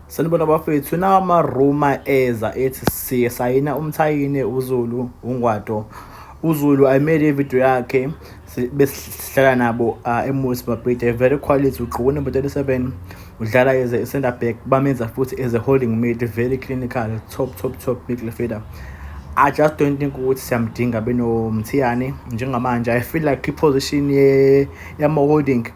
Sanibona bafethu nawa ama rumor eza ethi siye sayina umthayine uZulu uNgwato uZulu I made a video yakhe besihlala nabo uh, emusi babhida very quality ugqoke number 37 udlala as a center back bamenza futhi as a holding mid very clinical top top top midfielder I just don't think ukuthi siyamdinga benomthiyane njengamanje I feel like i-position yama-holding yeah,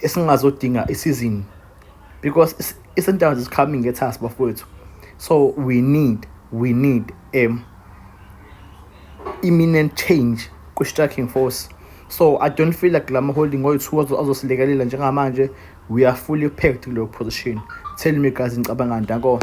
esingazodinga isizini because iSundowns is coming get us bafowethu so we need we need um imminent change kwi-striking force so i don't feel like lama holding oyi-two azosilekelela njengamanje we are fully packed kuleyo position tell me guys nicabanga ndako